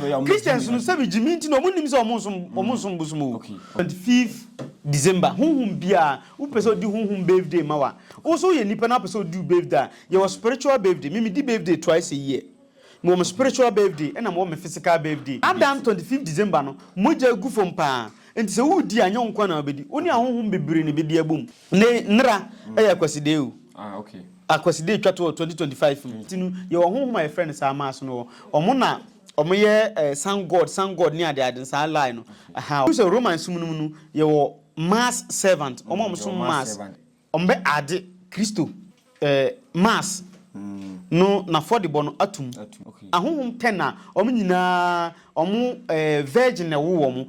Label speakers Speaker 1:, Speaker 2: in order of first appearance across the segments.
Speaker 1: Christians no sɛ megye me nti na ɔmo nim sɛ ɔmo nsom ɔmo nsom bosom o. Twenty fifth December honhom biara wopɛ sɛ odi honhom birthday ma wa wo so woyɛ nipa na wopɛ sɛ odi wo birthday a yɛwɔ spiritual birthday me medi birthday twice a year mewɔ me spiritual birthday ɛna mewɔ me physical birthday Adam twenty fifth December no mogya gu fam paa nti sɛ wodi a nyɛ wo nko ara na wobedi wo ne ahonhom bebree na ebedi abom Ne nnera yɛ Akwasidee o. Ah ok. Akwasidee
Speaker 2: twa to wɔ 2025
Speaker 1: mu. Ti no yɛ wɔ honhom a yɛfrɛ no saa mass no wɔ. Ɔmo na ɔmo yɛ eh sun god, sun god ne ade ade saa lie no. Aha. Wohu sɛ Roman som no mu no yɛ wɔ mass servant. Ɔmo a ɔmo som mass. Ɔmo bɛ ade Kristo eh mass no n'afɔdebɔ no atum. Ahonhom
Speaker 2: ten a
Speaker 1: ɔmo nyinaa ɔmo eh virgin na ɛwo wɔn.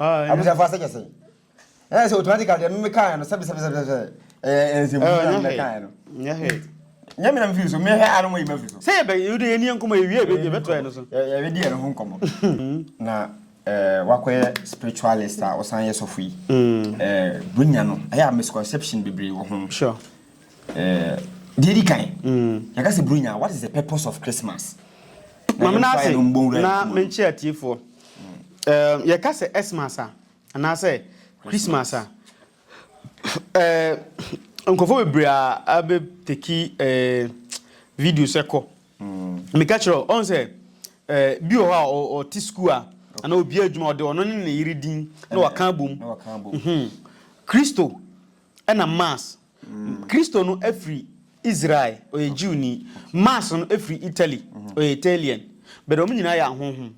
Speaker 2: Abusuafo ase kɛse. Ɛyɛ sɛ automatically deɛ mmemme kaa no sɛbisɛbisɛbisɛ ɛyɛ nsɛmfua na mmemme kaa no. Nyɛ hɛ. Nyɛ mi na mfiri so mehɛ a na mo yi ma firi so. Sɛ yɛ bɛn yɛ de yɛ ni yɛn
Speaker 1: kɔmɔ yɛ wie yɛ bɛ to yɛ no so. Yɛ bɛ di yɛ no ho nkɔmɔ.
Speaker 2: Na ɛɛ wakɔ yɛ spiritualist a ɔsan yɛ sɔfo yi. Ɛɛ bunya no ɛyɛ a misconception bebree wɔ ho. Sure. Deɛ ɛdi kan, yɛka sɛ Buronya a, what is the purpose of Christmas? Maame no
Speaker 1: ase na menkyerɛ atiefoɔ. Yɛka sɛ Xmas a, anaasɛ Christmas a, nkurɔfoɔ bebree a abɛteki videos ɛkɔ. Meka kyerɛ wo, ɔhu sɛ bi wɔ hɔ a ɔte sukuu a, anaa obi adwuma ɔde ɔno ne ne yere din na wɔaka abom. Kristo. Ɛna Mars, Kristo no firi Israel, ɔyɛ Jewni. Mars no firi Italy, ɔyɛ Italian. But wɔn nyinaa yɛ ahonhom.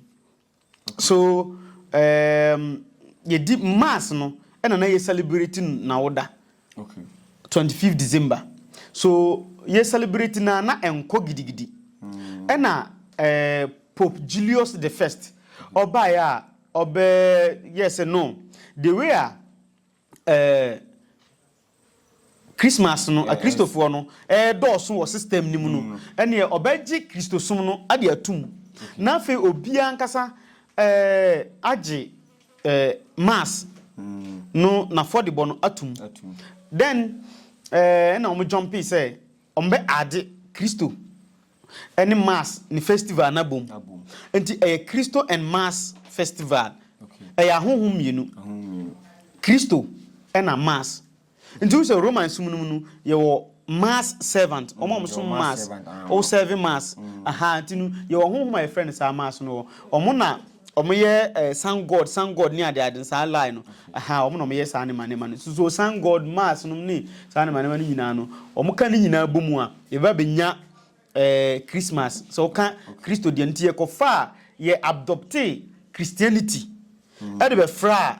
Speaker 1: So um, yɛdi Mars no, ɛna na yɛ celebrate n'awoda.
Speaker 2: Okay. 25
Speaker 1: December. So yɛ celebrate na na ɛnkɔ gidigidi. Mm. Ɛna eh, Pope Julius the First, ɔbaeɛ a ɔbɛ yɛ sɛ no, the way a Ɛɛ, Christmas no, Akristofoɔ no redɔɔso wɔ system no mu no, ɛnneɛ ɔbɛgye Kristosom no ade ato mu, na afei obiara ankasa ɛɛ, agye ɛɛ, Mass no n'afɔdebɔ no ato mu. Then ɛɛ, ɛna wɔn jumpee sɛ wɔbɛ adde Kristo. ne mass ne festival no abom nti ɛyɛ Christo and mass festival ɛyɛ ahonhom mmienu Christo ɛna mass nti wohu sɛ Roman som no mu no yɛwɔ mass servant wɔn a wɔn som mass wɔn serve mass aha nti no yɛwɔ honhom a yɛfrɛ no saa mass no wɔ wɔn na Ɔmo yɛ eh, sun god, sun god ne ade ade saa lie no. Aha, ɔmo na ɔmo yɛ saa ne ma ne ma no. So so sun god, Mars nom ne saa ne ma ne ma no nyinaa no, ɔmo ka ne nyinaa bɔ mu a, yɛba benya eh, Christmas. Sɛ ɔka Kristo deɛ no, nti yɛkɔ faa, yɛ abdoptee Christianity ɛde bɛfraa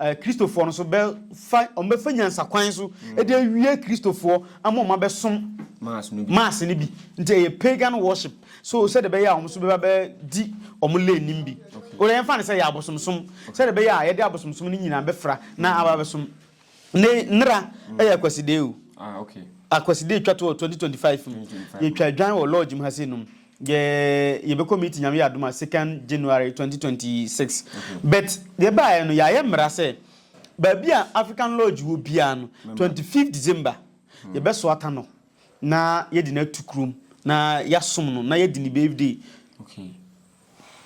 Speaker 1: Kristofoɔ no nso bɛfa, wɔbɛfa nyansakwan so de awie Kristofoɔ ama wɔn abɛsom Mars no bi. Nti ɛyɛ pagan worship. So sɛdeɛ ɛbɛyɛ a wɔn nso bɛba bɛdi wɔn lane no mu bi. Wode yɛmfa no sɛ ɛyɛ abosomsom. Sɛdeɛ ɛbɛyɛ a yɛde abosomsom no nyinaa bɛfra na aba abɛsom. Ne nnera yɛ Akwasideɛ o.
Speaker 2: Akwasideɛ twa to
Speaker 1: wɔ 2025 mu. Yɛtwa dwan wɔ lodge mu ha sei nom. yɛ yɛbɛkɔ meeting nyame yɛ adom a second January twenty twenty six but deɛ baayɛ no yɛayɛ mmara sɛ baabi a African Lodge wɔ biara no twenty fifth December yɛbɛsoata no na yɛde no atu kurom na yɛasom no na yɛdi ne birthday
Speaker 2: Okay.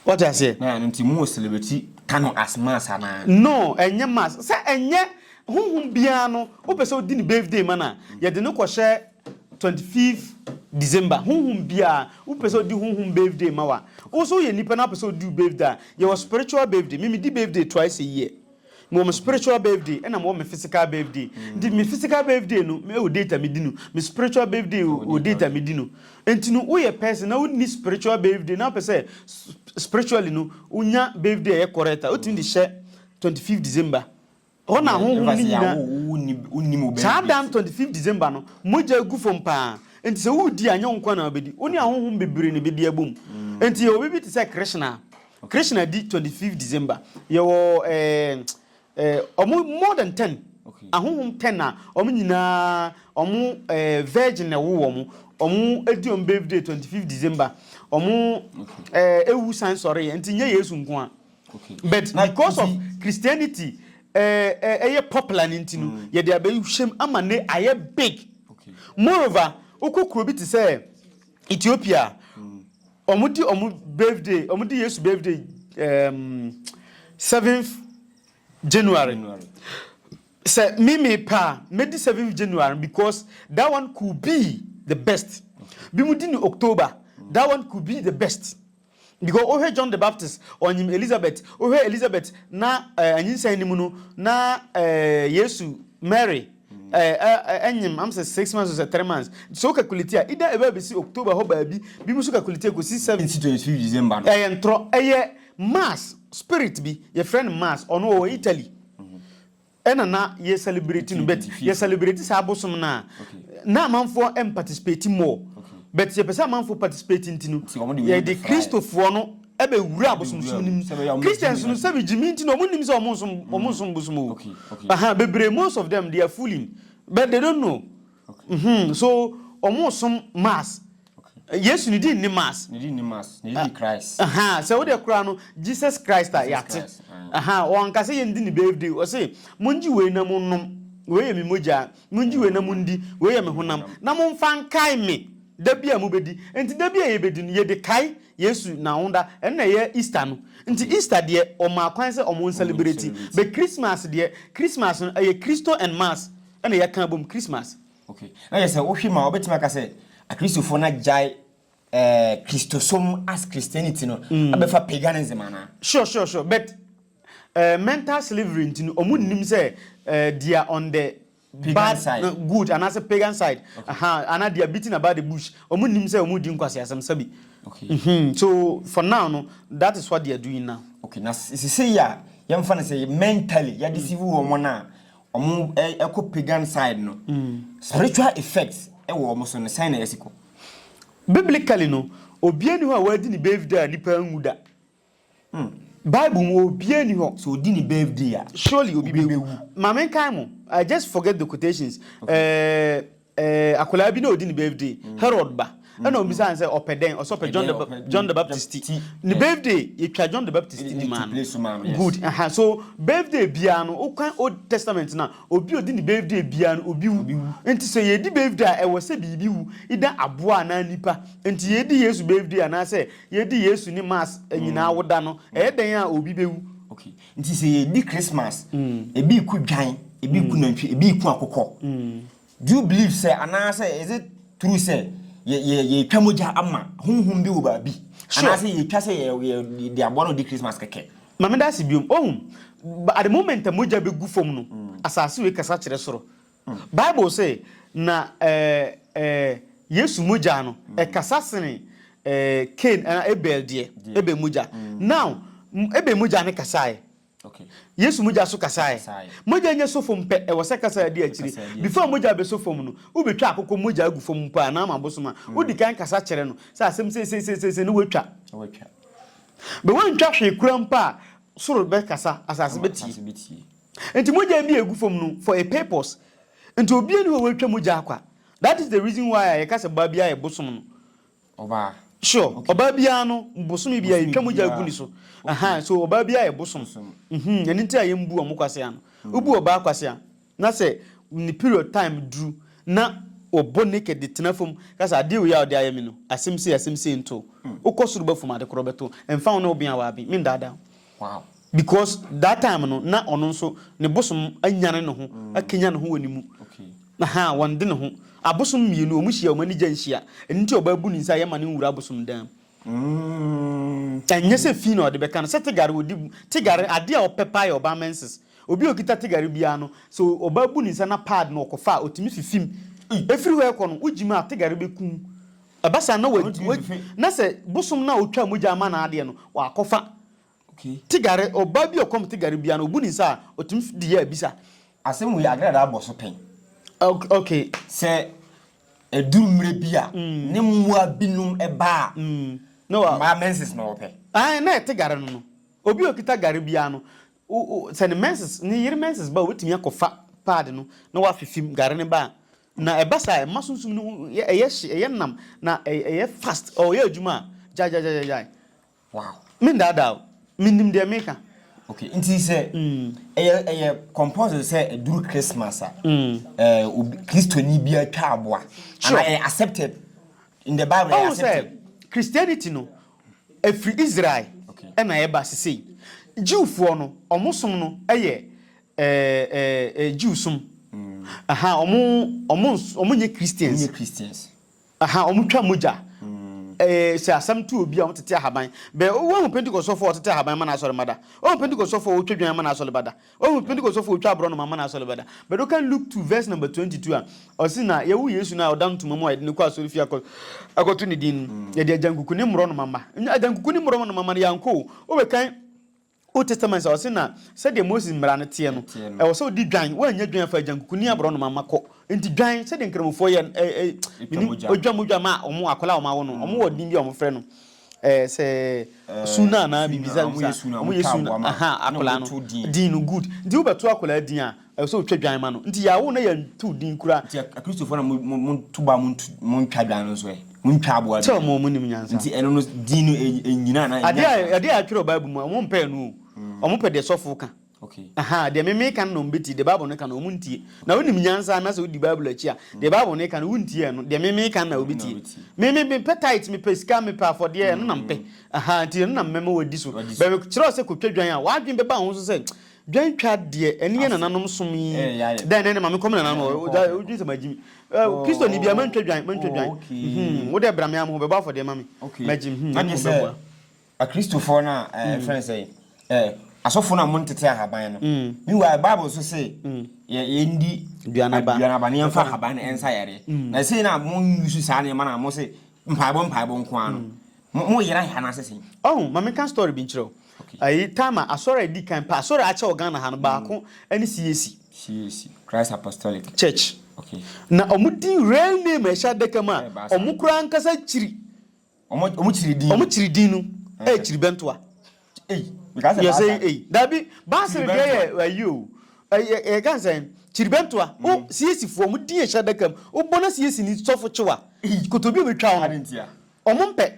Speaker 2: wɔte
Speaker 1: aseɛ Na ɛno nti
Speaker 2: mu wɔ celebrity ka
Speaker 1: no as
Speaker 2: mass anaa?
Speaker 1: no
Speaker 2: ɛnyɛ
Speaker 1: mass sɛ
Speaker 2: ɛnyɛ honhom
Speaker 1: biara no wopɛ sɛ wodi ne birthday ma no a yɛde no kɔhyɛ Twenty fifth December honhom biaa wopɛ sɛ ɔdi honhom birthday ma wo a wo so woyɛ nipa na wopɛ sɛ ɔdi wo birthday a yɛwɔ spiritual birthday me medi birthday twice a year mewɔ me spiritual birthday ɛna mewɔ me physical birthday nti me physical birthday no ɛwɔ date a medi no me spiritual birthday wɔ date a medi no nti no woyɛ person na wonni spiritual birthday na wopɛ sɛ spiritually no wonya birthday a ɛyɛ correct a wotumi de hyɛ twenty fifth December Hɔ na ahonhom no nyina Saa da no, 25 December no, mogya gu fam paa. Enti sɛ woredi a, nyɛ wo nko ara na wobɛdi. Wo ne ahonhom bebree na ɛbɛdi abom. Enti yɛwɔ biribi te sɛ Krishna. Krishna di 25 December. Yɛwɔ eh, eh, wɔn more than 10. Ahonhom 10 na wɔn nyinaa, wɔn eh, virgin na ɛwo wɔn. Wɔn di wɔn birthday 25 December. Wɔn eh, ewu san sɔre. Enti nyɛ Yesu nko ara. But because of Christianity ɛyɛ popular no nti no, yɛde abɛhyɛm ama no ayɛ big. Moreover, wokɔ kuro bi te sɛ Ethiopia a, wɔde wɔn birthday, wɔde Yesu birthday um, 7th January. Sɛ me me pɛ a, mɛdi 7th January because that one could be the best. Bi mu di ne October, that one could be the best. Because wohwɛ John the Baptist ɔnnyim Elizabeth, wohwɛ Elizabeth na anyinsɛn no mu no na Yesu, Mary, nnyim am sɛ six months or sɛ three months. Ntsi sɛ wo calculate a either ebɛba besi October hɔ baabi, binom so calculate ekosi seven. Ntsi twenty fifth December
Speaker 2: no. Ɛyɛ ntorɔ, ɛyɛ
Speaker 1: Mars spirit bi, yɛfrɛ no Mars, ɔno ɔwɔ Italy. Ɛna na yɛ celebrate no but yɛ celebrate saa bosom no a na amanfoɔ ɛn participate more but yɛpɛ sɛ amanfoɔ participate nti no yɛde Kristofoɔ no ɛbɛ wura abosomsom no mu Christians no sɛbi gyimi nti na ɔmo nnim sɛ ɔmo nsom ɔmo nsom bosom o ahaa bebree most of them they are fooling but they don't know mhmm so ɔmo som mass Yesu ne di nni mass. Ne di nni mass. Ne di
Speaker 2: Christ. Aha, sɛ wo de kura no
Speaker 1: Jesus Christ a yate. Aha, wɔn kasa yɛn di ne birthday. Ɔse, mo ngye wei na mo nom. Wei yɛ me mogya. Mo ngye wei na mo ndi. Wei yɛ me honam. Na mo nfa nkae me da bi a mo bedi. Nti da bi a yɛ bedi no, yɛ de kae Yesu n'ahoda. Ɛno na ɛyɛ Easter no. Nti Easter deɛ, wɔmaa kwan sɛ wɔn celebrate. But Christmas deɛ, Christmas no ɛyɛ Christo and mass ɛna yɛ ka abom Christmas. Ok, na kyerɛ sɛ
Speaker 2: wohwɛ mu a wobɛtumi aka sɛ Akristofoɔ no agyae eh, Kristosom as Christianity no abɛfa paganism anaa? Sure sure sure but
Speaker 1: eh, mental slavery nti no ɔmo nnim sɛ eh, they are on the Pagan bad side.
Speaker 2: eh, good anaasɛ pagan
Speaker 1: side aha anaa they are beating about the bush ɔmo nnim sɛ ɔmo di nkwaseasɛm sɛbi Ok, Mhm, so for now no that is what they are doing now. ok, na se- seesei
Speaker 2: a yɛmfa no sɛ mentally yɛadeceive wɔn no a, ɔmo ɛkɔ pagan side no spiritual effects ɛwɔ ɔmo so no sɛn na ɛsi kɔ? Biblically
Speaker 1: no obia ni hɔ a wadi ne birthday a nipa anwu da bible mu obia ni hɔ. Sɛ odi ne birthday a
Speaker 2: surely obi bɛ wu.
Speaker 1: Ma me nkae mo I just forget the quotations ɛɛ. Eh, akwadaa bi na ɔdi ne birthday, Herod ba. Ɛna ɔbisaa no sɛ ɔpɛ dɛn? Ɔsɛ ɔpɛ John the, John the Baptist ti. Ne birthday, yɛtwa John the Baptist ti maa no. Good. Aha. So, birthday biara no, wokan Old Testament no a, obi a ɔdi ne birthday biara no, obi wu. Enti sɛ yɛredi birthday a, ɛwɔ sɛ biribi wu, either aboa anaa nipa. Enti yɛredi Yesu birthday anaasɛ yɛredi Yesu ne Mass nyinaa woda no, ɛyɛ dɛn a obi bɛwu. Okay. Nti sɛ
Speaker 2: yɛdi Christmas, ebi reku dwan, ebi reku nantwi, ebi reku akokɔ. Do you believe sɛ anaasɛ is it true sɛ yɛ yɛ yɛretwa mogya ama honhom bi wɔ baabi? Sure. Anaasɛ yɛretwa sɛ yɛ yɛ yɛde aboa na ɔdi Christmas kɛkɛ? Ma meda ase biom.
Speaker 1: Ohu, at the moment a mogya bɛgu fam no, asase wei kasa kyerɛ soro. Bible se, Na Yesu mogya no kasa sene Kain anaa Abel deɛ, Abel mogya. Now, Abel mogya no kasaɛ.
Speaker 2: Yesu mogya nso
Speaker 1: kasaɛ. Mogya nyɛ so fam pɛ, ɛwɔ sɛ kasa di akyire. Before mogya bɛsɔ fam no, wobɛtwa akokɔ mogya agu fam mpo a, na ama abosom a, wodi kan kasa kyerɛ no sɛ asɛm seiseisei na woatwa. But woantwa hwee koraa mpo a, soro bɛkasa, asase bɛtie. Nti mogya bi a egu fam no for a purpose nti obia ni hɔ a watwa mogya akwa that is the reason why a yɛka sɛ baa biaa yɛ bosom no Ɔbaa.
Speaker 2: sure Okay. ɔbaa
Speaker 1: biaa no bosome biaa Bosome yɛtwa mogya biara. agu ne so Okay. ahaa so ɔbaa biaa yɛ bosom Bosom. mhm ɛno nti a yɛmbu ɔmo kwasea no wobu ɔbaa kwasea na sɛ ne period time duru na ɔbɔ naked de tena fam ka sɛ adeɛ wei a wode ayɛ me no asɛm sei asɛm sei nto wo wokɔ soro ba fam ade korɔ bɛto wo
Speaker 2: ɛmfa
Speaker 1: wo ne wo ben a waben mendaadaa wo Wow. Because that time no na ɔno nso ne bosom anyane ne ho akanyan ne ho wɔ ne mu. Okay. Aha, wɔn de ne ho. Abosom mmienu, wɔn hyia, wɔn ani gya nhyia. Ɛno nti ɔbaa bu ne nsa a yɛma no nwura abosom dan mu. Mm. Ɛnyɛ sɛ fi na ɔde bɛka no, sɛ tigare ɔdi bu. Tigare, ade a ɔpɛ paa yɛ ɔbaa menses. Obi a ɔkita tigare biara no, sɛ ɔbaa bu ne nsa na pad no ɔkɔfa a, ɔtumi fifim. Ɛfiri hɔ ɛkɔ no, wogyim a, tigare bɛkum Ɛba saa na wa, wa, na sɛ bosom no a ɔtwaa mogya ama no adeɛ no, wakɔfa tigare, ɔbaa bi a ɔkɔm tigare biara no, ɔbu ne nsa a, ɔtumi de yɛ abisa. Asɛm wei, Agradaa
Speaker 2: bɔ so pɛn. Ok, ok.
Speaker 1: Sɛ
Speaker 2: ɛduru mmerɛ bi a, ne mmoa binom ba a, mmaa
Speaker 1: menses na
Speaker 2: wɔpɛ. Ae, na ɛte gare no
Speaker 1: no. Obi a ɔkita gare biara no, Wo wo sɛ ne menses ne yere menses ba a obetumi akɔfa pad no na wafifim gare no ba a na ɛba saa a ɛma sunsum no ho yɛ ɛyɛ hye ɛyɛ nam na ɛy ɛyɛ fast ɔyɛ adwuma a gyagyagyagyagyae wow
Speaker 2: mendaadaa o
Speaker 1: menim deɛ meka. Ok nti sɛ
Speaker 2: ɛyɛ ɛyɛ compulsory sɛ ɛduru Christmas a ɛɛ obi Kristoni biara twa aboa anaa Sure. ɛyɛ accepted in the bible ɛyɛ Ɔhu sɛ accepted. Christianity no
Speaker 1: Ɛfiri Israel na ɛba sesei. Jewfoɔ no, wɔn som no yɛ Jew som. Wɔn nyɛ Christians. Wɔn twa mogya. Sɛ asɛm to obi a, wɔn tete ahaban. Bɛ, woahu Pentecostfoɔ a wɔtete ahaban ma n'asɔremma da? Woahu Pentecostfoɔ a wɔtwa dwan ma n'asɔremma da? Ohu Pentekostfo otwa aborɔnoma ma n'asɔre bɛda. But wokan Luke two verse number twenty two a, ɔse na yɛwo Yesu no a ɔda no ntoma mu a yɛde no kɔ asɔre fie akɔto ne din no, yɛde agyankuku ne mmorɔnoma mma. Nnya agyankuku ne mmorɔnoma mma no yɛankɔ o. Wobekan Old Testament a, ɔse na sɛdeɛ Moses mmara no teɛ no, ɛwɔ sɛ wode dwan, woannya dwan a fa agyankuku ne aborɔnoma mma kɔ. Nti dwan, sɛdeɛ Nkramofoɔ yɛ no, eh, eh, menim, odwa, modwa ma wɔn akwadaa a wɔawo no, wɔn wɔ din bi a wɔfrɛ no, Ɛɛ sɛ su no anaa biribi saa bi saa a, wɔyɛ su no, aha, akwadaa no din no, good. Nti wobɛto akwadaa din a, ɛsɛ sɛ wotwa dwan ma no. Nti yɛawo na yɛanto din koraa. Nti Akristofoɔ no a
Speaker 2: moto ba a montwa dwan no nso ɛ? Montwa aboa bi ɛ? Sɛ wɔn nnim nyansa. Nti
Speaker 1: ɛno no, din no,
Speaker 2: ɛnnyina anaa ɛnnya nhyira? Adeɛ a ɛtwerɛ wɔ Bible
Speaker 1: mu a, wɔmpɛ ɛno o. Wɔpɛ deɛ sɔfo ka. Okay. Aha, deɛ
Speaker 2: me meka
Speaker 1: no na wɔbɛtie, deɛ Bible no ka no wɔntie. Na wonim nyansa na sɛ wodi Bible akyi a, deɛ Bible no ka no wontie ɛno, deɛ me meka no na wɔbɛtie. Me me mepɛ tight, mepɛ sika, mepɛ afɔdeɛ, ɛno na mepɛ. Aha, nti ɛno na mɛma wɔadi so. Bɛ mekyerɛ wo sɛ kɔtwa dwan a, w'adwene bɛba wo ho so sɛ dwan twa deɛ, ɛno yɛ nananom som yi. Dɛn na ɛne ma menkɔm nananom hɔ? Wodwene sɛ magye mi. Kristoni bia mantwa dwan, mantwa dwan. Mhm, wo deɛ bra me a, mehɔ bɛbɔ afɔdeɛ ma me. Magye, mhm, na mmom bɛboa.
Speaker 2: Akristofoɔ no a yɛfrɛ no sɛ asɔfoɔ no a wɔntete ahaban no. Meanwhile, Bible nso se yɛ yɛndi duanaba na yɛmfa ahaban no nsa yareɛ. Na sei na mo use saa nneɛma no a mo se mpaebɔ mpaebɔ nko ara no, mo yera he anaasɛ sei? Ɔho, ma menka story
Speaker 1: bi nkyerɛ wo. Ayi time a asɔre a edi kan paa, asɔre a akyɛ wɔ Ghana ha no, baako ɛne CAC. CAC, Christ Apostolic.
Speaker 2: Church.
Speaker 1: Na wɔn
Speaker 2: din
Speaker 1: real name a ɛhyɛ adaka mu a wɔn koraa ankasa kyiri Wɔn kyiri din. Wɔn kyiri din no yɛ kyiribɛntoa. Ei, meka sɛ baasa. Yɛsɛ ei, dabi baasa no deɛ yɛ ayi o. Ɛyɛ ɛyɛ kan sɛ kyiribɛntoa. O siesifoɔ wɔn din yɛ hyɛ adaka mu. O bɔ na siesi ni sɔfo kyewa. Kotobi obi twa wɔn. Adi ntia. Wɔn mpɛ.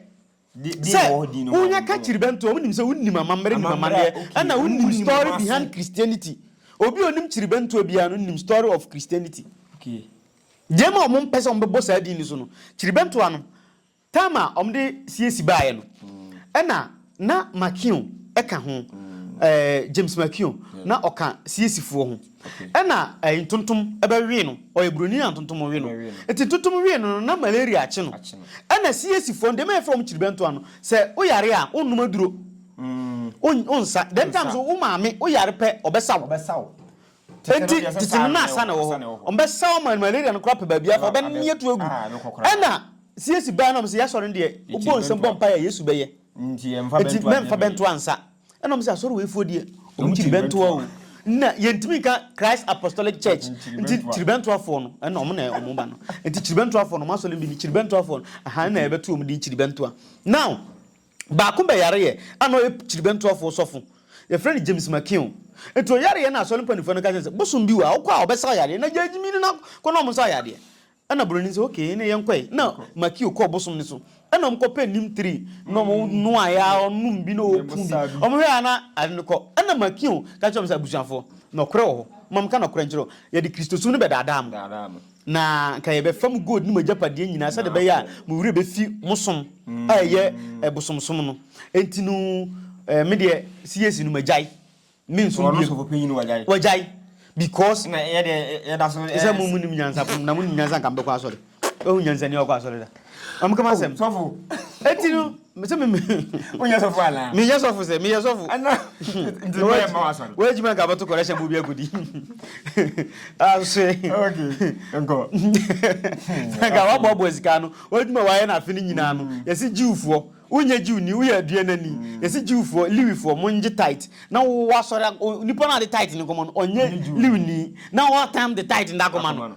Speaker 1: Sɛ wɔn yɛ ka kyiribɛntoa wɔn nim sɛ wɔn nim amammerɛ nim amaneɛ. Ɛna wɔn nim story behind Christianity. Obi onim kyiribɛntoa biara no nim story of Christianity.
Speaker 2: Deɛ ma wɔn
Speaker 1: mpɛ sɛ wɔn bɛbɔ saa din no so no kyiribɛntoa no. Tam a wɔde siesi baeɛ no, ɛna na McKeon ka ho, James McKeon, na ɔka siesifoɔ ho. Ɛna ntontom bɛwee no, ɔyɛ buroni na ntontom we no. Nti ntontom wee no no, na malaria akye no. Ɛna siesifoɔ no, deɛ ɛma yɛfrɛ wɔn kyiribɛntoa no, sɛ woyare a, wonnom aduro, wonsa. Dɛm tam so, wo maame, woyare pɛ, ɔbɛsa wo. Enti December no asa na ɛwɔ hɔ. Wɔbɛsa wɔn ma malaria no koraa pɛ baabi afa, wɔbɛnoa to agu. Ɛnna CAC bae na wɔse, Yɛn asɔre no deɛ, wobɔ nsam bɔ mpae a, Yesu bɛyɛ. Enti
Speaker 2: mɛmfa bɛntoa nsa.
Speaker 1: Ɛnna wɔse, Asɔre weifoɔ deɛ, wɔn kyiribɛntoa o. Na yɛntumi nka Christ Apostolic Church, enti kyiribɛntoafoɔ no, ɛnna wɔn na wɔba no. Enti kyiribɛntoafoɔ no, wɔn asɔre no bi ni, kyiribɛntoafoɔ no, ɛha na yɛbɛto wɔn din, kyiribɛntoa. Now, Baako bɛyareɛ a na ɔyɛ kyiribentoɔfoɔ sɔfo. Yɛfrɛ no James McKeon. Nti ɔyareɛ na asɔre mpaninfoɔ no ka kyerɛ no sɛ, bosom bi wɔ ha, wokɔ a ɔbɛsa wo yadeɛ. Na Gyagye mini no na kɔ na ɔmsa wo yadeɛ. Ɛna Broni no sɛ, ok, ɛneɛ yɛnkɔe. Na Makio kɔɔ bosom no so. Ɛna ɔmo kɔ pɛɛ neem tree na ɔmo noaeɛ ara, ɔnom bi na ɔku bi. Ɔmo hwɛɛ ara na ade no kɔ. Ɛna Makio ka kyerɛɛ ɔmo sɛ, abusuafoɔ, nɔkorɛ wɔ hɔ. Mma menka nɔkorɛ nkyerɛ wo. Yɛde Kristosom no bɛdaadaa mo. Na anka yɛbɛfa mo gold ne mo agyapadeɛ nyinaa sɛdeɛ ɛbɛyɛ a mo werɛ bɛfi mo som a ɛyɛ bosomsom no. Enti no me deɛ CAC no magyae, mensom bio. Wagyae because
Speaker 2: ɛsɛ mo monim
Speaker 1: nyansa na monim nyansa anka mobɛkɔ asɔre. Woahu nyansani a ɔkɔ asɔre da? Ɔmo kama asɛm. Sɔfo. Eti
Speaker 2: no
Speaker 1: mese me me. Wonyɛ sɔfo
Speaker 2: ana? Menyɛ sɔfo sɛ meyɛ sɔfo.
Speaker 1: Ana nti
Speaker 2: mo yɛ ma wasɔre. Wɔ adwuma nka bɛto kɔrɛhyɛ
Speaker 1: mu bi agudi. Ahwe.
Speaker 2: Okay. Nkɔ.
Speaker 1: Nka wabɔbɔ sika no. W'adwuma wayɛ no afe no nyinaa no. Yɛse Jewfoɔ. Wonyɛ Jew ni woyɛ aduanani. Yɛse Jewfoɔ, Lewifoɔ mongye tithe. Na wowɔ asɔre nipa no a ɔde tithe no kɔma no ɔnyɛ Lewini. Na ɔɔtam de tithe no de akɔma no.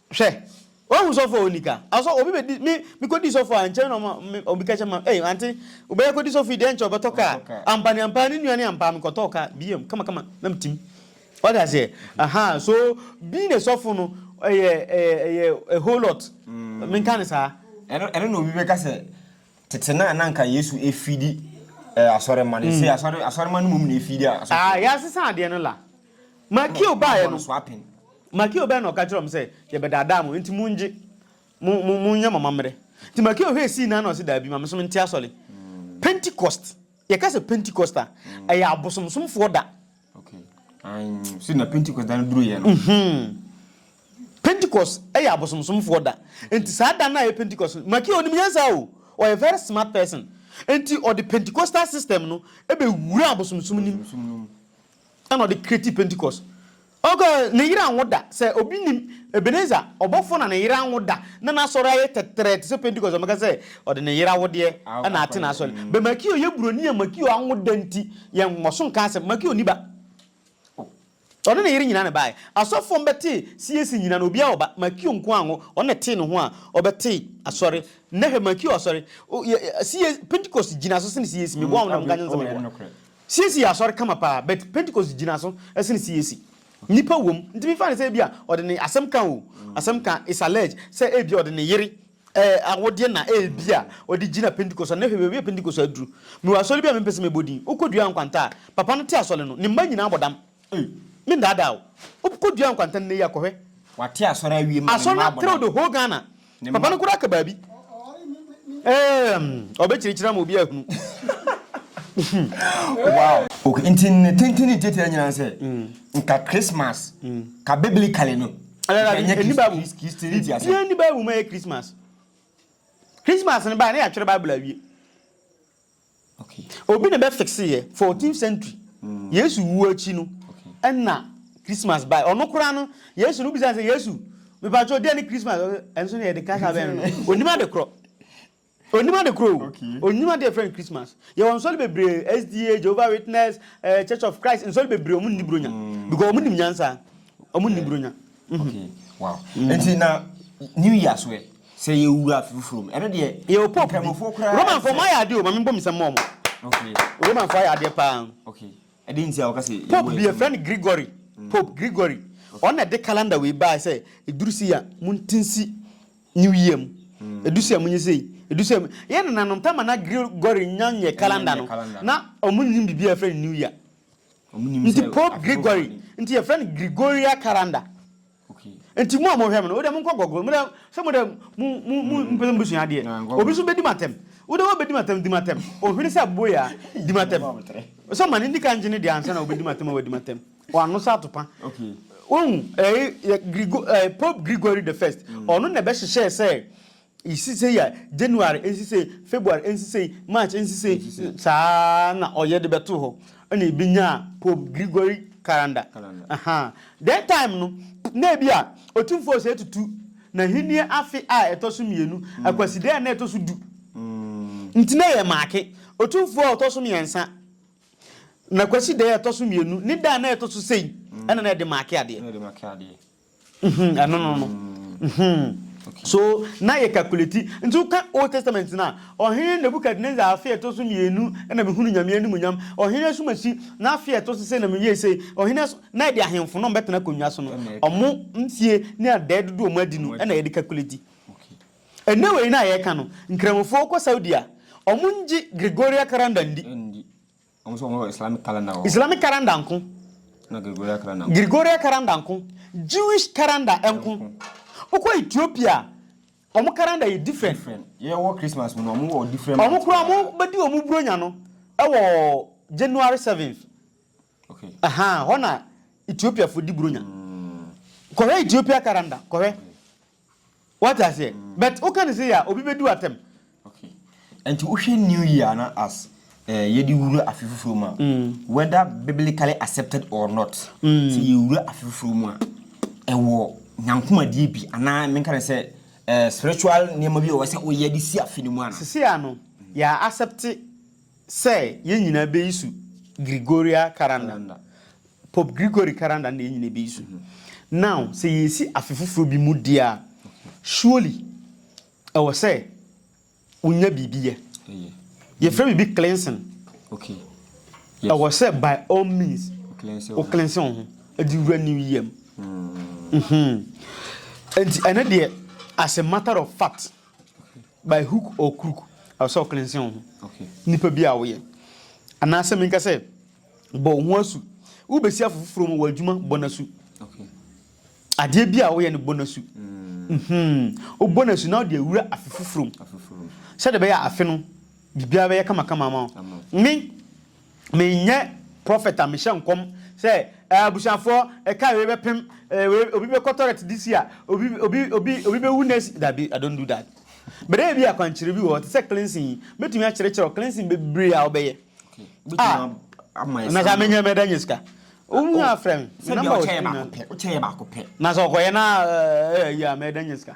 Speaker 1: Hwɛ, wahu sɔfo a onni ka. Asɔ, obi bedi, me, mikodi sɔfo a, nkyɛ na ɔma, me, obi ka kyerɛ ma, ei, ante, wobɛyɛ akodi sɔfo yi deɛ nkyɛ ɔbɛtɔ ka a. Ampa ne ampa, ne nua ne ampa, mekɔtɔɔ ka, biam, kama kama, na metim. Wate aseɛ? Aha, so, being a sɔfo no, ɛyɛ, ɛyɛ, ɛyɛ a whole lot. Menka no saa. Ɛno, ɛno na obi bɛka
Speaker 2: sɛ, tete no a na anka Yesu feedi, eh, asɔremma no, ɛsei asɔre, asɔremma no mmom na ɛfeedi asɔfo. Ah, yɛasesa adeɛ no la.
Speaker 1: Makeo baeɛ no, Makeo
Speaker 2: baeɛ na ɔka
Speaker 1: kyerɛɛ wɔn sɛ, Yɛbɛdaadaa mo, enti mongye, mo, mo, monyɛ mo amammerɛ. Nti Makeo hwɛɛ sii nan na ɔse, Daabi, ma me nso mente asɔre. Pentecost, yɛka sɛ Pentecost a, ɛyɛ abosomsomfoɔ da. Okay.
Speaker 2: Um, so na Pentecost da no duruiɛ no. Mm-hmm. Pentecost
Speaker 1: ɛyɛ abosomsomfoɔ da. Nti saa da no a ɛyɛ Pentecost, Makeo nim nyansa o, ɔyɛ very smart person. Nti ɔde Pentecostal system no ɛbɛwura abosomsom nim. Ɛna ɔde create Pentecost. Ɔkɔ ne yere anwo da. Sɛ obi nim Ebenezer ɔbɔfo na ne yere anwo da na n'asɔre ayɛ tɛtrɛɛ te sɛ Pentecost a, ɔbɛka sɛ ɔde ne yere awodeɛ na ate n'asɔre. But Makio yɛ buroni a Makio anwo da nti yɛnkɔ so nka asɛm. Makio nni ba. Ɔne ne yere nyinaa na ɛbaeɛ. Asɔfoɔ no bɛtee CAC nyinaa no obiara wɔ ba. Makio nko ara anwo. Ɔno na ɛtee ne ho a ɔbɛtee asɔre. Nnɛ hwɛ Makio asɔre. CAC Pentecost gyina so sene CAC. Meboa wo nnɛ, monka nkyɛ no sɛ meboa. Siesie yɛ asɔre kama paa but pentecost gyina so sen CAC. Nipa wom nti me fa no sɛ ebia ɔde ne asɛm ka o asɛm ka it's alleged sɛ ebia ɔde ne yere awodeɛ na ebia ɔde gyina pentecost ano na hwɛ baabi a pentecost aduru. Mewɔ asɔre bi a me mpɛ sɛ mebɔ din wokɔ dua nkwanta a papa no te asɔre no ne mma nyinaa bɔ dam Ei, me nnaadaa o. Wo kɔ dua nkwantan nnɛ yi a, kɔ hwɛ. Wate asɔre awie
Speaker 2: ma ne mma abɔ dam. Asɔre no trɛw the whole Ghana.
Speaker 1: Papa no koraa ka baabi. Eemm, ɔbɛkyirikyiri ama obi ahunu.
Speaker 2: Wow. Okay, nti ne tenten ne tiatia nyinaa ne sɛ, nka Christmas, ka biblically no, nka ɛnyɛ
Speaker 1: Christianity asɛm. Biribiara nni Bible mu a ɛyɛ Christmas. Christmas no bae a, na yɛatwerɛ Bible awie.
Speaker 2: Obi na ɛbɛ
Speaker 1: fixe yɛ fourteenth century Yesu wuo akyi no ɛna Christmas bae ɔno koraa no Yesu no bisa sɛ Yesu mipatwɔ deɛ ne Christmas ɛnso ne yɛde kasa bɛn no onim ade korɔ onim ade korɔ o onim ade yɛfrɛ no Christmas yɛwɔ nsɔre bebree SDA Jehovah Witness eh, Church of Christ nsɔre bebree ɔmo nni bronya because ɔmo nim nyansa ɔmo nni bronya. Okay,
Speaker 2: wow. Mm. Nti na New Year so ɛ sɛ yɛ wura afi foforo mu. Ɛno deɛ yɛ o pop bi. Nkramofoɔ koraa.
Speaker 1: Roman fo mo ayɛ adeɛ o, ma mi bɔ mi sɛ mo ɔmo. Okay.
Speaker 2: Roman fo ayɛ adeɛ
Speaker 1: paa. Okay. Ɛde nti
Speaker 2: a wɔka sɛ. Pope bi efra no Gregory.
Speaker 1: Mm. Pope Gregory. Ɔno na ɛde calendar wei baa sɛ eduru si a mo ntinsi New Year mu. Mm. Edu si a mo nye sei. Edu si a yɛ nananom pɛ ma na Gregory nya nyɛ calendar no. Na ɔmo nim bibi a efra no New Year. Nti Pope Gregory nti yɛfrɛ no Gregorian calendar.
Speaker 2: Nti mo a mohwɛ me
Speaker 1: no wode monkɔ gɔgoro modɛ sɛ modɛ mo mo mo mpɛ sɛ mobɛsua adeɛ obi so bɛdi matɛm wode wobɛdi matɛm di matɛm ohwene sɛ abobo yɛ a di matɛm sɛ ma no ndi ka ngye ne deɛ ansa na wobɛdi matɛm a wadi matɛm wano sɛ atopa wohu
Speaker 2: ɛɛ Grego
Speaker 1: ɛɛ Pope Gregory the first ɔno na ɛbɛhyehyɛɛ sɛ Nsisei a January nsisei, February nsisei, March nsisei, saa ara na ɔyɛ de bɛtoo hɔ na ebenyaa Pope Gregory Calendar. Dɛn time no na ebia Otumfoɔ sɛ tutu n'ahenni afe a ɛtɔ so mmienu, Akwaside a na ɛtɔ so du nti na yɛ maake Otumfoɔ a ɔtɔ so mmiɛnsa na Kwaside a ɛtɔ so mmienu ne da a na ɛtɔ so sei na na yɛde maake adeɛ. Mm-hmm, ɛno no no. Mm-hmm. Okay. So na yɛ calculate nti woka Old Testament no a ɔhene Nebuchadnezzar afe a ɛtɔ so mmienu na mehunu nyame animuonyam ɔhene asumasi na afe a ɛtɔ so sɛ na meyɛ sɛ ɔhene na ɛde ahemfo no ɔmbɛtena akonnwa so no ɔmo mfie ne adɛɛ dodo ɔmo adi no ɛna yɛde calculate ɛnɛ wei no a yɛka no nkramofoɔ kɔ Saudi a ɔmo ngye Gregorian calendar ndi
Speaker 2: Islamic calendar nko, Gregorian calendar nko,
Speaker 1: Jewish calendar nko. Wokɔ Ethiopia a, wɔn calendar yɛ different.
Speaker 2: Wɔn koraa wɔbɛdi
Speaker 1: wɔn Buronya no wɔ January seventh.
Speaker 2: Hɔ na
Speaker 1: Ethiopiafo di Buronya. Kɔhwɛ Ethiopia calendar, kɔhwɛ. Wate aseɛ but woka ne sei a obi bɛdu atɛm. Okay
Speaker 2: nti wohwɛ new year no as eh, yɛde wura afe foforɔ mu a whether biblically accepted or not sɛ yɛwura afe foforɔ mu a ɛwɔ nyankomadeɛ bi anaa menka ne sɛ eh, spiritual nneɛma bi a ɛwɔ sɛ woyɛ de si afe no mu ana. Sisi a no yɛ
Speaker 1: accept sɛ yɛn nyinaa bɛyi so Gregoria Calendar, Pope Gregory Calendar na yɛn nyinaa bɛyi so. Now, sɛ yɛresi afe foforɔ bi mu deɛ a, surely ɛwɔ sɛ wonya biribi yɛ. Yɛfrɛ biribi cleansing. Okay.
Speaker 2: Yes.
Speaker 1: Ɛwɔ sɛ by all means wo cleanse wo ho de wura new year mu. Mm. Mm-hmm. Nti ɛno deɛ as a matter of fact by hook or crook ɛwɔ sɛ ɔklensen wo ho nipa bi
Speaker 2: a woyɛ
Speaker 1: anaasɛ menka sɛ bɔ wo ho asu wobɛsi afo foforɔ mu wɔ adwuma bɔ no asu
Speaker 2: adeɛ
Speaker 1: bi a woyɛ no bɔ no asu wobɔ no asu na wode awura afe foforɔ mu sɛdeɛ bɛyɛ afe no biribiara bɛyɛ kamakama ma wo ne Menyɛ prɔfɛt a mehyɛ nkɔm sɛ abusuafoɔ ɛka wei bɛpem, wei obi bɛkɔ tɔrɛt this year, obi obi obi obi bɛwu next dabi I don't do that. But ebi yɛ akwankyerɛ bi wɔ hɔ te sɛ cleansing yi mɛtumi akyerɛkyerɛ wɔ cleansing bebree a wobɛyɛ a na sɛ menyɛ mɛda nyɛ sika. Wohu a frɛ me, me namba wɔ screen
Speaker 2: na. Na sɛ ɔkɔyɛ na
Speaker 1: ɛyi a mɛda nyɛ sika.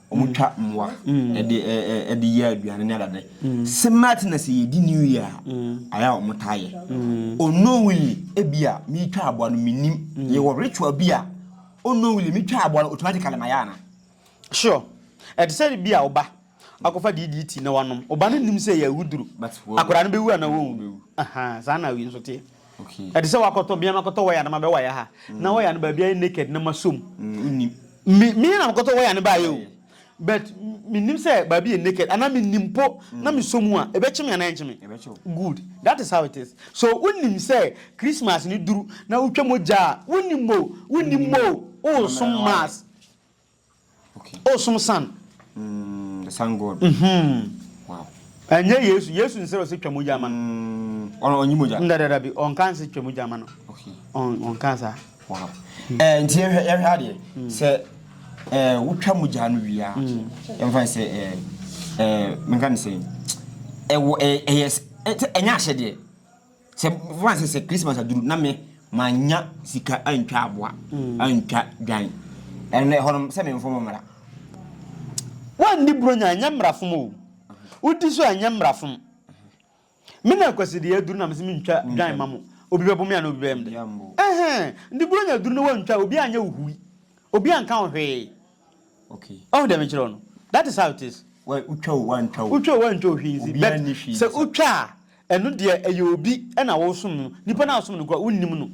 Speaker 2: wɔtwa mmoa de de yɛ aduane ne adade. Similar thing na sɛ yɛdi New Year a, ayɛ a wɔtaa yɛ. Unknowingly, ebi a meretwa aboa no menim. Yɛwɔ ritual bi a unknowingly metwa aboa no automatically mayɛ ana?
Speaker 1: Sure. Ɛte sɛ bi a wo ba akɔfa DDT na wanom. Wo ba no nnim sɛ ɛyɛ awuduru. Akwadaa no bɛwu anaa wɔnwu? Ahaa, saa na wei nso teɛ. Ɛte sɛ wakɔtɔ
Speaker 2: mea
Speaker 1: makɔtɔ waya na mabɛ waya ha na waya no baabi ayɛ naked na masɔ mu.
Speaker 2: Me me na
Speaker 1: mekɔtɔ waya no baayɛ o but menim sɛ baabi yɛ naked anaa menim mpo na mesɔ mu a ɛbɛkye me anaa ɛnkye me? Good that is how it is so wonim sɛ Christmas no duru na wotwa mogya a wonim o wonim o woresom mass.
Speaker 2: O som san.
Speaker 1: Mm, the
Speaker 2: sun god. Mhm. Wow. Ɛnyɛ Yesu,
Speaker 1: Yesu nsrɛ sɛ twa mogya ma no. Mm, ɔno ɔnyi mogya. Ndadada
Speaker 2: bi, ɔnka nse
Speaker 1: twa mogya ma no. Okay. On ɔnka
Speaker 2: saa.
Speaker 1: Wow.
Speaker 2: Mm. Eh, nti yɛhwɛ yɛhwɛ adeɛ mm. sɛ eh wotwa mogya no wie a, mm. yɛmfa sɛ eh eh menka ne sɛ ɛwɔ ɛyɛ ɛnyɛ ahyɛdeɛ. Sɛ fa sɛ sɛ Christmas aduru na me manya sika antwa aboa mm. antwa dwan ɛnna ɛhɔ nom sɛ memfom mmara. Woanni buronya ɛnyɛ mmara
Speaker 1: fom o wodi so ɛnyɛ mmara fom. Me na akwasideɛ aduru na mesɛ mentwa dwan ma mo obi bɛbo me ana obi bɛyɛ mde ɛhɛn ndi buronya aduru na woantwa obi anyɛ wo hui obi anka wo hwee Okay.
Speaker 2: Ɔhu deɛ mekyerɛ wo no?
Speaker 1: That is how it is. Wɔ wotwa o wantwa
Speaker 2: o. Wotwa o wantwa o hwee nsi.
Speaker 1: Obiara nni hwee nsi. But sɛ wotwa a, ɛno deɛ ɛyɛ obi ɛna wosom no. Nipa no a wosom no koraa wonnim no.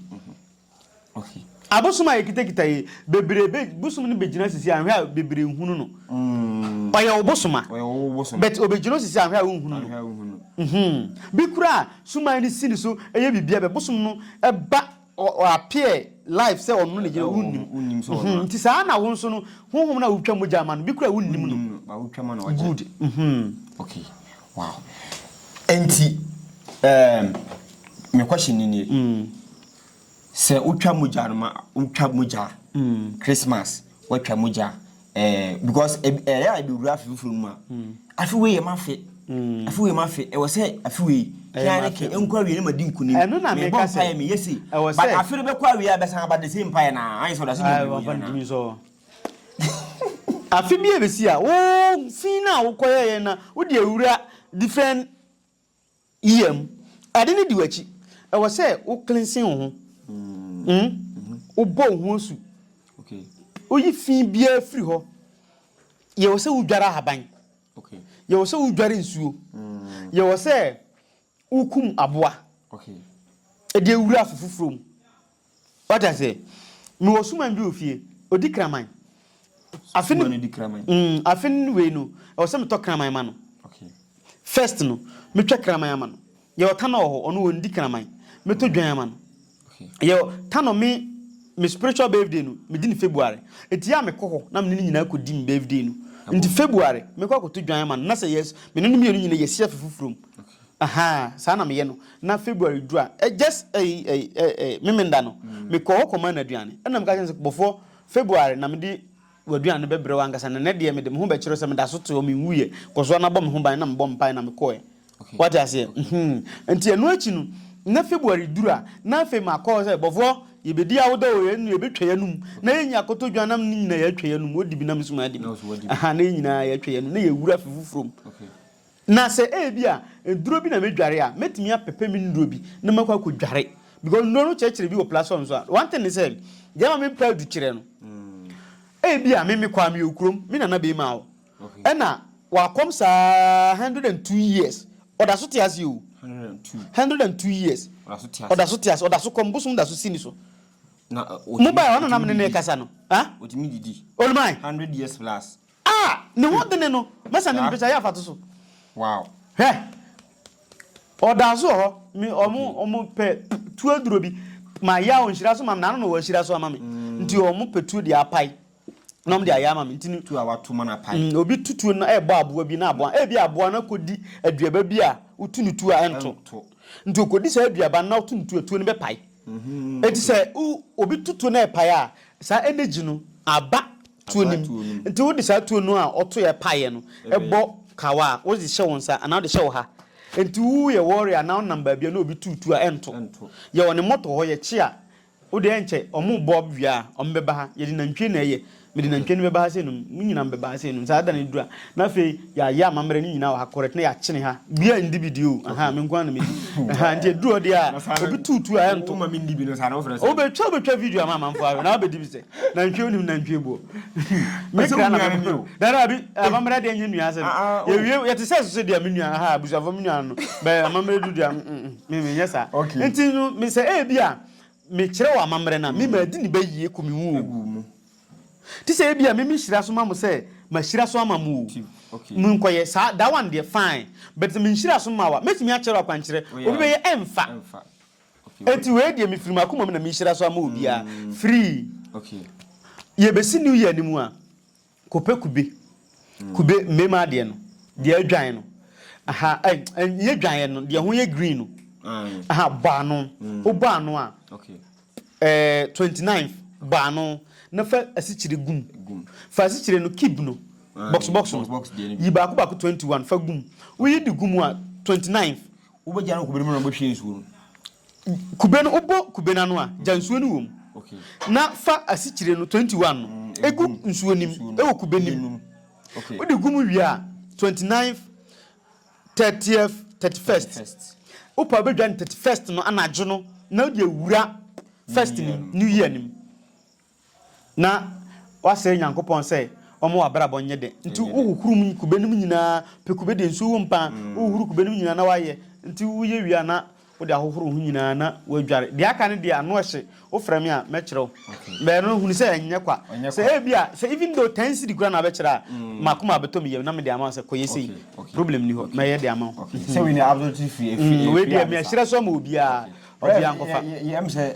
Speaker 1: Okay.
Speaker 2: Abosom a
Speaker 1: yɛkitakita yi, bebree be, bosom no bɛgyina sisi anhwɛ a bebree nhunu no. Mm. Ɔyɛ wo bosom a. Ɔyɛ wo bosom. But obɛgyina sisi anhwɛ a wonhunu no. Anhwɛ a wonhunu. Mhm. Bi koraa suman no si ne so ɛyɛ biribi a bɛbosom no ɛba. Ɔ ɔ appear live sɛ ɔno ne yere, wonnim. Mhmm nti saa na
Speaker 2: wo nso
Speaker 1: no honhom no a wotwa mogya ma no bi koraa wonnim no. Good
Speaker 2: mhmm.
Speaker 1: Okay
Speaker 2: wow ɛnti ɛɛm me question no nie, sɛ wotwa mogya no ma wotwa mogya a, Christmas watwa mogya ɛɛ because ɛbi ɛyɛ a ebi wura afe foforɔ no mu a afe wei yɛ ma afe afe wei ma afe ɛwɔ sɛ afe wei Ɛyɛ ma afe. kɛnɛkɛ nkɔ awie na ma di nkunim Ɛno na mebɔ meka sɛ, mpaeɛ
Speaker 1: meyɛ sei ɛwɔ but sɛ-
Speaker 2: afe no bɛkɔ awie a bɛsan aba the same mpaeɛ no ara ayɛ sɛ ɔde ase Ah, nyɛ wɔfa no gyimi sɔ.
Speaker 1: Afe bi a ebesi a, wo fi no a wokɔyɛeɛ no, wode awura different Yam. Ade no di w'akyi. Ɛwɔ sɛ wo cleansen wo ho. Umm wo bɔ wo ho asu.
Speaker 2: Wo yi fi
Speaker 1: biara firi hɔ. Yɛ wɔ sɛ wo dware ahaban. Yɛ
Speaker 2: wɔ sɛ wo dware
Speaker 1: nsuo. Yɛ wɔ sɛ wo kum aboa.
Speaker 2: Ɛde
Speaker 1: awura afofoforɔ mu. Wate aseɛ? Mewɔ suman bi wɔ fie, ɔdi kraman. Afe no, mm,
Speaker 2: afe no wei no,
Speaker 1: ɛwɔ sɛ metɔ kraman ma no.
Speaker 2: First no,
Speaker 1: metwa kraman ama no. Yɛwɔ tanɔ wɔ hɔ, ɔno ɔndi kraman. Mɛtɔ dwan ama no. Yɛwɔ
Speaker 2: tanɔ
Speaker 1: me me spiritual birthday no, medi no February. Enti yɛ a mekɔ hɔ na me ne no nyinaa kɔdi me birthday no. Nti February, mɛkɔ akɔtɔ dwan ama no, na sɛ yɛs, me ne no mmienu nyinaa yɛsi afe foforɔ mu. Ahaa saa na meyɛ no na February du a ɛ just ɛyi ɛyi ɛ ɛ Memenda no me kɔ hɔ kɔ maa no aduane ɛna me ka kyerɛ no sɛ bɔfoɔ February na mede w'aduane bɛ brɛ wo ankasa na nɛ deɛ mede me ho bɛkyerɛ sɛ meda so te hɔ me nwuiɛ kɔ so ana bɔ me ho ban na me bɔ mpaeɛ na me kɔɛ wate aseɛ mhmm nti ɛno akyi no na February duru a na afei ma kɔ sɛ bɔfoɔ yɛ bɛ di awoda o yɛ bɛ twa yɛ num na yɛ nya kɔtɔ dwan nam ne nyina yɛ twa yɛ num o dibi na me so maa dibi ahaa na yɛ nyinaa yɛ twa yɛ num na yɛ wura afe foforɔ mu. Na sɛ ebia nnuro bi na mɛdware a, mɛtumi apɛpɛ me nnuro bi na makɔ akɔdware. Because nnuro no kyerɛkyerɛ bi wɔ platform so a, one thing ne sɛ, deɛ ɛma me mpɛ adukyerɛ no, ebia me mekɔ a, meyɛ okurom, me nana bɛrima hɔ, ɛna wakɔm saa hundred and two years, ɔda so te aseɛ o, hundred and two years, ɔda so te aseɛ, ɔda so kɔm, bosom da so si ne so. Na Mo baeɛ a, ɔno na nam ne no rekasa no. Ɔtumi didi. Olumai.
Speaker 2: Hundred years
Speaker 1: plus.
Speaker 2: A! Ne ho
Speaker 1: dene no, mɛsa ne mpɛkyɛ ayɛ afato so. Wow.
Speaker 2: Hwɛ!
Speaker 1: Ɔdaa so wɔ hɔ, me, ɔmo, ɔmo pɛ tuo aduro bi, ma ya ɔnhyira so ma me, n'ano na wɔahyira so ama me. Nti ɔmo pɛ tuo de apae, na ɔmo de ayɛ ama me. Nti no. Tuo a wɔato ma no apae. Mm,
Speaker 2: obi tu tuo no ɛrebɔ
Speaker 1: aboa bi na aboa, ebi aboa no akɔdi aduaba bi a wotu no tuo a ɛnto. Ɛnto. Nti ɔkɔdi saa aduaba no na ɔto no tuo a, tuo no bɛpae. Nti sɛ wo, obi to tuo na ɛpae a, saa energy no aba. tuo no mu. Nti wode saa tuo no a ɔtoeɛ paeɛ no bɔ kawa a, wode hyɛ wo nsa anaa wode hyɛ wo ha. Nti woyɛ warrior anaa wonam baabi a na obi tu tuo a, ɛnto. Yɛwɔ ne mɔtɔ hɔ, yɛkye a, wode ɛnkyɛ, wɔbɔ wie a, wɔbɛba ha. Yɛde nantwie na ɛyɛ. Mede nantwie no bɛba ha sɛ nom. Mo nyinaa mobɛba ha sɛ nom. Saa da no duru a, na afei Yɛayɛ amammerɛ no nyinaa wɔ ha correct na yɛakyene ha. Bia ndi bi deɛ o, ahaa, me nko ara na mɛdi. Ahaa, nti ɛduru hɔ deɛ a, obi tu tu a ɛnto. Woma mendi bi no, saa na wofrɛ
Speaker 2: sɛ. Wobɛtwa wobɛtwa video
Speaker 1: ama amanfoɔ ahwɛ na wabɛdi bi sɛ, nantwie wonim nantwie boɔ. Me kra na mɛbɔ. Daabi daabi, amammerɛ deɛ ɛnyɛ nnuane asɛm. Yɛwie, yɛte sɛ sese deɛ me nua, ahaa, abusuafoɔ me nua no, but amammerɛ duru deɛ a, mm mm, me menyɛ saa. Nti no, me sɛ ebia mekyerɛ wo amammerɛ no a, me maadi ne bɛ yie ku me ho o. Te sɛ ebia me me hyira so ma mo sɛ ma hyira so ama mo o. Mo nkɔ yɛ saa that one deɛ fine but sɛ me nhyira so ma wa mɛtumi akyɛrɛ wo akwankyerɛ obi bɛyɛ ɛnfa ɛnti wei deɛ me firi makoma mu na me hyira so ama obiara firi
Speaker 2: yɛ bɛsi
Speaker 1: new year no mu a kɔ pɛ kube kube mmɛma adeɛ no deɛ adwan no aha ɛnyɛ dwan yɛ no deɛ ho yɛ green no aha bɔ ano o bɔ ano a.
Speaker 2: Eh, twenty
Speaker 1: ninth, bɔ ano na fa asikyire gu mu. Fa asikyire no, cube no, box box no, yi baako baako twenty one fa gu mu. Woyi de gu mu a, twenty ninth. Wobɛgya no wɔ kube
Speaker 2: no mu na wobɛhwie nsuo no. Kube
Speaker 1: no, wobɔ kube no ano a, gya nsuo no wɔ mu. Okay. Na
Speaker 2: fa
Speaker 1: asikyire no, twenty one no, egu nsuo no mu, ɛwɔ kube no mu. Okay. Wode gu
Speaker 2: mu wie a,
Speaker 1: twenty ninth, Thirtieth, thirty first, wo paa bɛdwane thirty first no anadwo no na wode awura first no mu, new year no mu, na woasrɛ Nyankopɔn sɛ ɔmma w'abrabɔ nyɛ dɛ, nti wohohoro mu kube no mu nyinaa, pɛ kube deɛ nsuo wom paa, wohohoro kube no mu nyinaa na woayɛ, nti woyɛ wie a na Wode ahohoro wo ho nyinaa na woadware. Deɛ aka no deɛ, ano hye. Wofrɛ me a, mɛkyerɛ wo. Bɛn no, hunu sɛ ɛnyɛ kwa. Sɛ ebia, sɛ even though ten cedi koraa na wobɛkyerɛ a, m'akoma abɛtɔ me yam na mede ama wo sɛ, kɔ yɛ sei. Problem nni hɔ. Mɛyɛ de ama wo. Sɛ wei deɛ, absolutely
Speaker 2: free. Wei deɛ, merehyerɛ so
Speaker 1: ama obiara. Ɔbea nkɔfa.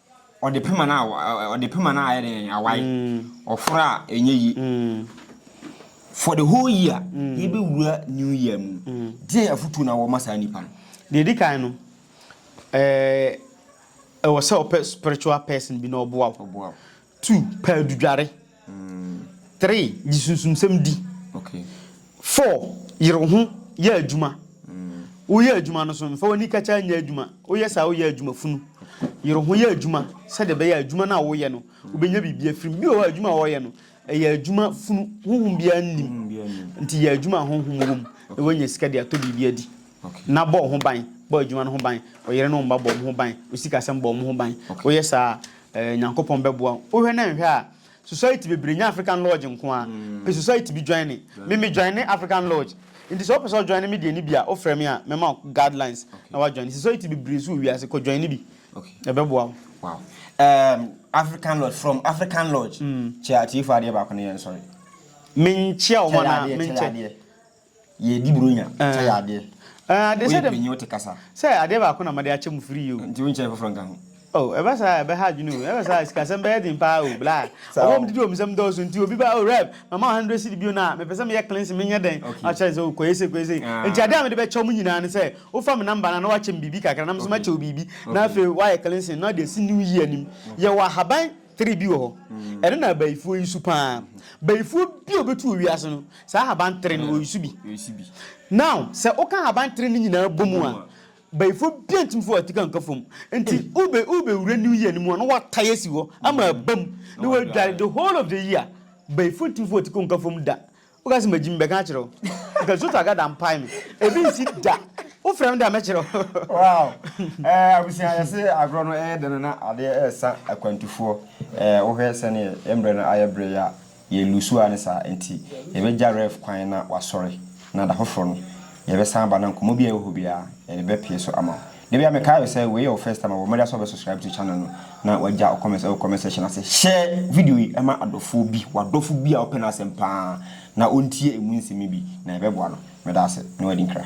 Speaker 2: Ɔde pema no a ɔde pema no a ayɛ dɛn awae ɔforo a ɛnyɛ yi for the whole year yɛbɛwura new year mu deɛ afotuo na wɔma saa nipa no deɛ di kan no
Speaker 1: ɛɛ ɛwɔ sɛ ɔpɛ spiritual person bi na ɔboa wo Two, pɛ adudware. Three, gye sunsumsɛm di.
Speaker 2: Four,
Speaker 1: yere wo ho yɛ adwuma. Woyɛ adwuma no so, mfa w'ani kakyaa nyɛ adwuma. Woyɛ saa a, woyɛ adwuma funu. Yere wo ho yɛ adwuma sɛdeɛ ɛbɛyɛ a adwuma no a woyɛ no, wobɛnya biribi afiri mu. Bi wɔ hɔ a, adwuma a wɔyɛ no, ɛyɛ adwuma funu. Honhom biara nnim. Nti yɛ adwuma a honhom wom na woanya sika de atɔ biribi adi. Nna bɔ wo ho ban, bɔ adwuma no ho ban. Ɔyere ne wo mma bɔ wɔn ho ban. Wo sikasɛm bɔ wɔn ho ban. Woyɛ saa a, Eh Nyankopɔn bɛboa wo. Wohwɛ na nhwɛ a society bebree nyɛ African lodge nko ara. Pe society bi joine. Me me joine African lodge. Nti sɛ wopɛ sɛ wo joine me deɛ no bi a wo frɛ me a mɛma wo guidelines na wa joine. Society bebree nso wɔ wiase kɔ joine bi. Ɛbɛboa wo.
Speaker 2: Wow. Ehm African lodge from African lodge. Kyɛ atiefoɔ adeɛ baako na yɛnsɔre. Menkyea
Speaker 1: wɔn anaa menkyɛ. Yɛdi
Speaker 2: Buronya kyɛ yɛ adeɛ. Ɛɛ, adeɛ sɛ dɛm. Woyɛ
Speaker 1: panyin wote kasa. Sɛ
Speaker 2: adeɛ baako na made
Speaker 1: akyɛ mo firi yi o. Nti wonkyɛɛ foforɔ nka
Speaker 2: ho. Oh, ɛba saa a,
Speaker 1: ɛbɛha adwene o. Ɛba saa a, sikasɛm bɛyɛ den paa o, bla. Saa Ɔbɔ o. mdidi o, mnsɛm dɔɔso nti obi ba, oh, Rev, mama wo hundred cedi bio na mepɛ sɛ meyɛ cleansing, menyɛ dɛn? Na Okay. wakyerɛ ne sɛ, oh, kɔyɛ sei, kɔyɛ sei. Nti adeɛ a mede bɛkyɛ wɔn nyinaa ne sɛ, wofa me number no a na woakyɛ me biribi kakra na me nso Okay. makyɛ wo biribi na Okay. afei woayɛ cleansing na wode asi New Year no mu. Yɛwɔ ahaban. Three bi wɔ hɔ. Ɛno na abayifoɔ yi su paa. Bayifoɔ bi a ɔbɛtu wɔ wiase no, saa ahaban tere no ɔyi su bi. Now, sɛ woka ahaban tere no nyinaa bɔ mu a, bayifoɔ biara ntumi fa watika nka fam. Nti wobɛ wobɛwura new year no mu a na watae asi hɔ ama abam na wadware the whole of the year. Bayifoɔ ntumi fa watika nka fam da. Wo ka sɛ magyi me bɛka akyerɛ wo. Nka Zoto Agada mpae me. Ebi nsi da. Wo frɛ me de a mɛkyerɛ wo. Wow
Speaker 2: eh abusua yɛse agorɔ no ɛyɛ dɛ no na adeɛ ɛɛsa akwantufoɔ eh wo hwɛ sɛneɛ yɛn mbrɛ no ayɛ brɛ yi a yɛ lusu a ne saa nti yɛbɛ gya Rev kwan na wasɔre na da foforɔ no yɛbɛ san aba na nkɔmɔ bi a ɛwɔ hɔ biara yɛde bɛ pie so ama wo. Da bi a me kae sɛ wei yɛ wo first time a bɔ mmɔden sɛ wobɛ subscribe to channel no na wagya comment ɛwɔ comment section ase. Hyɛ video yi ma adɔfoɔ bi, w'adɔfo bi a ɔpɛ n'asɛm paa na ɔntie ɛmu nsɛm yi bi na ɛbɛboa no. Meda ase na wadi nkra.